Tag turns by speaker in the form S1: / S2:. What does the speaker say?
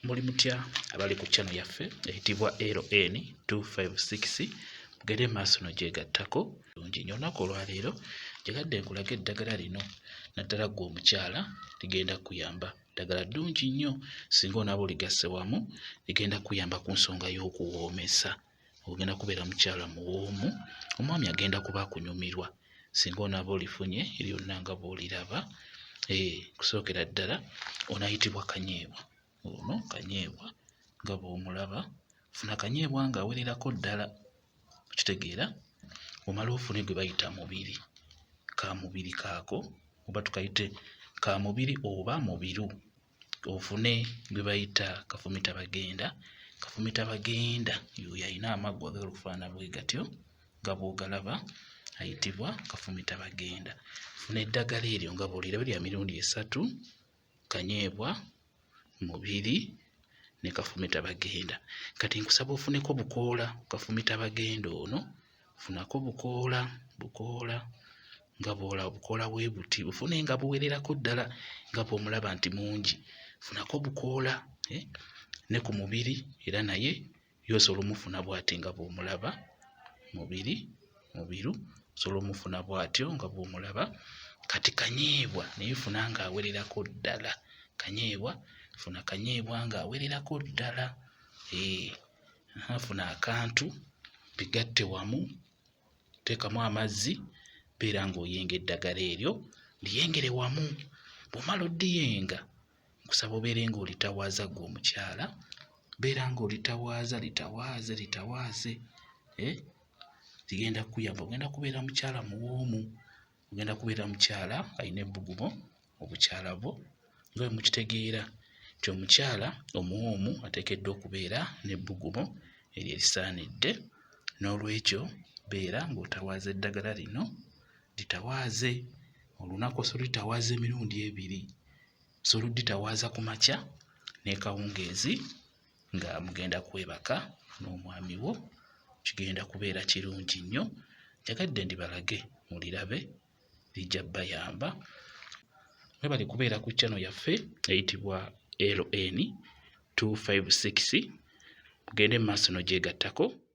S1: muli mutya abali ku channel yaffe eyitibwa ln 256 mugere maaso no gyegattako lungi nyo olunaku olwaleero gyegadde nkulaga eddagala lino naddala gwe omukyala ligenda kuyamba ddagala ddungi nnyo singa onaba oligasse wamu ligenda kuyamba ku nsonga y'okuwoomesa ogenda kubeera mukyala muwoomu omwami agenda kuba akunyumirwa singa onaaba olifunye lyonna nga bwoliraba eh, kusookera ddala onayitibwa kanyeebwa ono kanyeebwa nga bwomulaba funa kanyeebwa nga awererako ddala okitegeera omala ofune gwe bayita mubiri ka mubiri kaako oba tukayite ka mubiri oba mubiru ofune gwe bayita kafumita bagenda kafumita bagenda yoyo alina amaggwa agala okufaana bwe gatyo nga bwogalaba ayitibwa kafumita bagenda funa eddagala eryo nga bwoliraba lya mirundi esatu kanyeebwa mubiri ne kafumita bagenda kati nkusaba ofuneko bukoola kafumita bagenda ono funako bukoola bukoola nga bwola bukoola bwe buti bufune nga buwererako ddala nga bw'omulaba nti mungi funako bukoola eh, ne ku mubiri era naye yosobola omufuna bwati nga bw'omulaba mubiri mubiru osobola omufuna bwatyo nga bw'omulaba kati kanyeebwa naye funa nga awererako ddala kanyeebwa funa kanyeebwa nga awererako ddala eh, afuna akantu bigatte wamu teekamu amazzi beera ng'oyenga eddagala eryo liyengere wamu bw'omala odiyenga nkusaba obeere ng'olitawaaza gwe omukyala beera ng'olitawaaza litawaaze litawaaze eh? ligenda kukuyamba ogenda kubeera mukyala muwoomu ogenda kubeera mukyala alina ebbugumu obukyala bwo nga bwe mukitegeera nti omukyala omuwoomu ateekeddwa okubeera n'ebbugumu eryo erisaanidde n'olwekyo beera ng'otawaaza eddagala lino litawaaze olunaku osobola olitawaaza emirundi ebiri osobola odditawaaza ku makya n'ekawungeezi nga mugenda kwebaka n'omwami wo kigenda kubeera kirungi nnyo njagadde ndibalage mulirabe lijja bayamba mwebale kubeera ku chano yaffe eyitibwa ln 256 mugende mu maaso nogyegattako